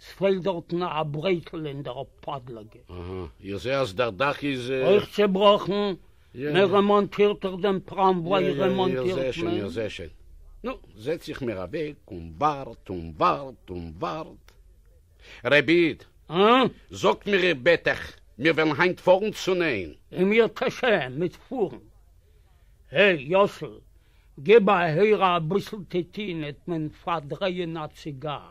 ס'פעלט דארטן א ברעקל אין דער פאדלאגע. אהה, איך זע אז דער דאך איז. אויך צעבראכן. מען רעמאנטירט דאך דעם טראמוויי, רעמאנטירט מען. נו, זעץ איך מיר אוועק און ווארט און ווארט און ווארט. רבי איד! זאגט מיר איך בעט אייך, מיר וועלן היינט פארן צו ניין? אין מיר טשעם מיט פארן. הע, יאסל, גיב א הערה אביסל טעטינעט מען פארדרייען א ציגאר.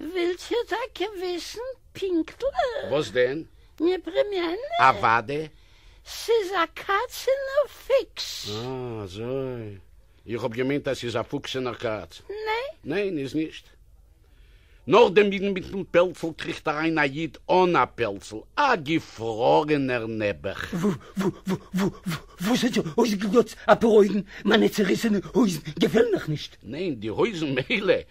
ווילט איר טאקע וויסן פינקטליך? וואס דען? מיר פרימיינען. אוואדע. ס'איז א קאצענער פיקס. אה אזוי. איך האב געמיינט אז ס'איז א פוקסענער קאץ. ניין. ניין איז נישט. נאך דעם אידן מיטן פעלצל קריכט אריין א איד אן א פעלצל, א געפרארענער נעבעך. וואו ס'האט זיך אויסגעגלאצט אפאר אויגן, מיינע צעריסענע הויזן געפעלן מיך נישט. ניין, די הויזן מילא.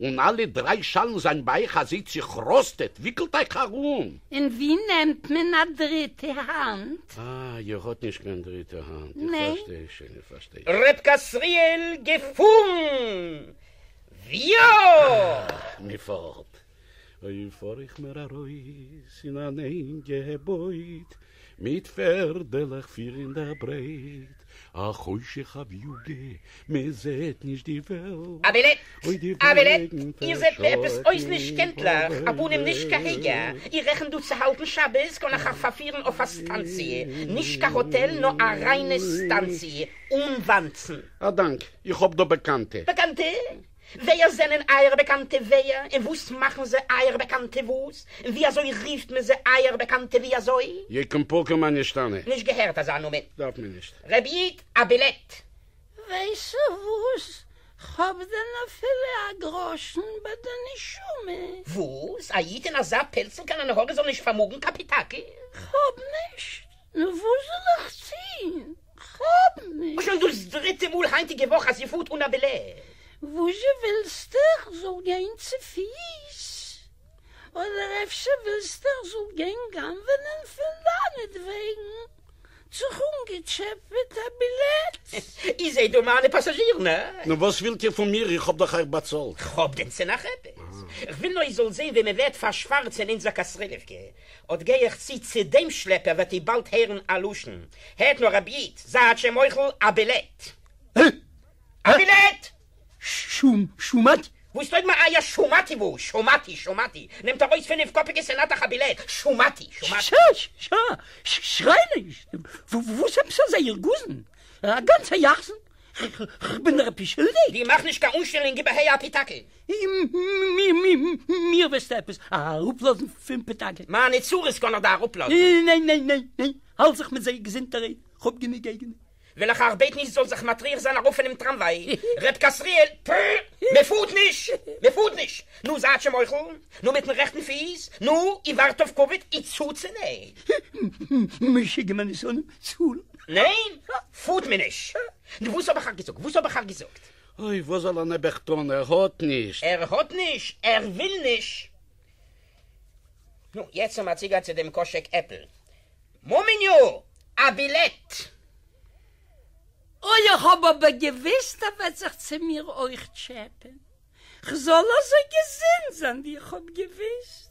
און אַלע דרײַ שאַלן זײַן בײַך, אַז זי צעכראָסטעט, װיקלט אײַך אַרום. און װי נעמט מען אַ דריטע האַנט? אַ, איר האָט נישט קײן דריטע האַנט. איך פֿאַרשטײ שױן, איך פֿאַרשטײ שױן. רבקה-ישׂראל, געפֿאָרן! װיאָ! אַ, מע פֿאָרט! אױב פֿאָר איך מער אַרױס אין אַן ענגע בױד, מיט פערדלעך פֿיר אין דער ברייט. א חושך א וויוגע, מע זעט נישט די וועלט. א בילעט! א בילעט! איר זעט מיר עפעס אויס נישט קענטליך, א פנים נישט כרגע. איר רעכנט דא צו האלטן שבת? קען איך אייך פארפירן אויף א סטאנציע. נישט קיין האטעל, נאר א ריינע סטאנציע, אן וואנצן. א דאנק, איך האב דא באקאנטע. באקאנטע? ווער זענען אייערע באקאנטע ווער און וואס מאכן זיי אייער באקאנטע וואס און ווי אזוי רופט מען זיי אייער באקאנטע ווי אזוי. יקום פקר מה נשתנה. נישט געהערט אזא נאמען. דארף מען נישט. רבי איד א בילעט. ווייסע וואס? כ'האב דען אפילו א גראשן ביי די נשמה? וואס? א איד אין אזא פעלצל קיין הנהגה זאל נישט פארמאגן קאפיטאקל? כ'האב נישט, נו וואס זאל איך טוהן? כ'האב נישט. שוין דאס דריטע מאל היינטיגע וואך אז זי פארט אן א בילעט. וואזשע ווילסטע כ'זאל גיין צופיס? אדער אפשר ווילסטע כ'זאל גיין גנב'נען פון דיינעטוועגן זיך אנגעטשעפעט א בילעט? איר זעהט דא מיינע פאסאזשירן, הא? נו וואס ווילט איר פון מיר? איך האב דאך אייך באצאלט. כ'האב דען צו נאך עפעס? כ'וויל נאר איר זאלט זעהן ווי מ'ווערט פארשווארצען אונזער קאסרילעווקע. אָט גײ איך צו צו דעם שלעפּער, װעט איר באַלד הערן אַ לשון, הערט נאָר, רב ייִד, זײַט זשע מוחל, אַ בילעט! ע? אַ בילעט! ש, שמעתי! װאָס טױג מיר אײַער שמעתי? װאָס שמעתי, שמעתי? נעמט אַרױס פֿינפֿקאָפּיקע סענאַטעך אַ בילעט, שמעתי, שמעתי! ש, ש, שרײַ נישט! װאָס עפּעס אַזאַ ירגוזן? אַ גאַנצער יחסן? כ'בין דיר עפּעס שולדיק? די מאַך נישט קײן אָנשטעלונג איבער ה' אַ פּיטאַקע! מיר וועסטו עפעס אראפלאזן פון פאטאגע? מיינע צרות קען איך דיר אראפלאזן. ניין ניין ניין ניין ניין, האלט זיך מיט זיי געזונט אריי, כ'האב גענוג אייגענע. וויל איך איך בעט נישט זאלסט זיך מטריח זיין ארויף פונעם טראמוויי, ר' קאסריאל, פררר, מ'פארט נישט! מ'פארט נישט! נו זייט'זשע מוחל, נו מיט'ן רעכטן פיס, נו, איר ווארט אויף קאוויד, איר צוצענעט! משוגע מיינע שונאים, צאלן! ניין! פארט מען נישט! נו וואס האב איך אייך געזאגט? וואס האב איך אייך געזאגט? אוי, וואס זאל ער נעבעך טון, ער האט נישט. ער האט נישט, ער וויל נישט. נו, יעצט האמער צוגיין צו דעם קאשעק עפל. מאמיניו! א בילעט! אוי, איך האב אבער געוויסט ער וועט זיך צו מיר אויך טשעפען. כ'זאל אזוי געזונט זיין ווי איך האב געוויסט.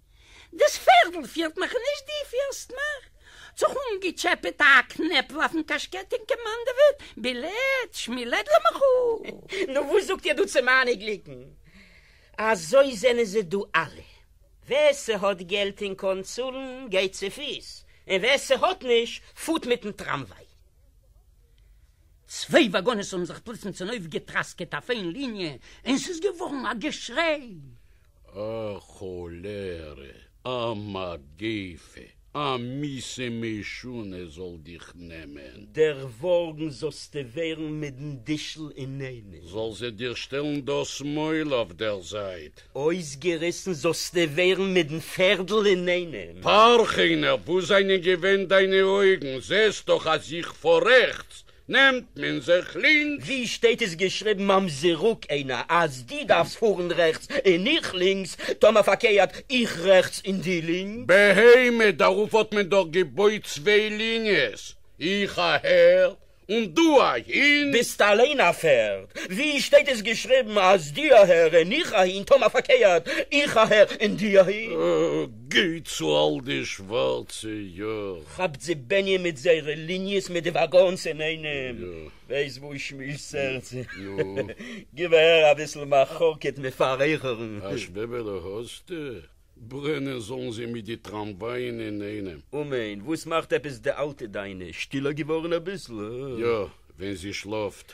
דאס פערדל פירט מיך נישט די פירסט מיך. זיך אנגעטשעפעט א קנעפל אויפן קאשקעט און קעמאנדעוועט בילעד שמילעד למחול. נו וואס זאגט איר דא צו מיינע גליקן? אזוי זענען זיי דא אלע. ווער ס'האט געלט און קען צאלן גייט צופיס, און ווער ס'האט נישט פארט מיטן טראמוויי. צוויי וואגאנעס האבן זיך פלוצים צונויפגעטראסקעט אויף איין ליניע און ס'איז געווארן א געשריי. א כאָלערע, א מגפֿה, א מיסע משונה זאָל דיך נעמען! דערוואָרגן זאָלסטו ווערן מיט דעם דישל אינאיינעם. זאָל זי דיר שטעלן דאָס מויל אויף דער זייט. אויסגעריסן זאָלסטו ווערן מיט דעם פֿערדל אינאיינעם. פֿאַרכינער, וווּ זײַנען געווען דײַנע אויגן? זעסט דאָך, אַז איך פֿאָר רעכטס! נעמט מען זיך לינקס. ווי שטייט עס געשריבן ממזרוק עינה אז די דארפסט פארן רעכטס און איך לינקס, טאמער פארקערט איך רעכטס און די לינקס? בהמה, דערויף האט מען דאך געבויט צוויי ליניעס, איך אהער און דו אהין. ביסט אליין א פערד. ווי שטייט עס געשריבן אז די אהער און איך אהין, טאמער פארקערט איך אהער און די אהין? גיי צו אל די שווארצע יאר. כאפט זי בענין מיט זייערע ליניעס מיט די וואגאנס אינאיינעם. וועסט וואו שמירסט הערטס. גיב אהער אביסל מחלוקת מיט פארעכערן. א שוועבעלע האסטו? ברענען זאלן זיי מיט די טראמווייען אינאיינעם. אמן, וואס מאכט עפעס די אלטע דיינע? שטילער געווארן אביסל? יא, ווען זי שלאפט.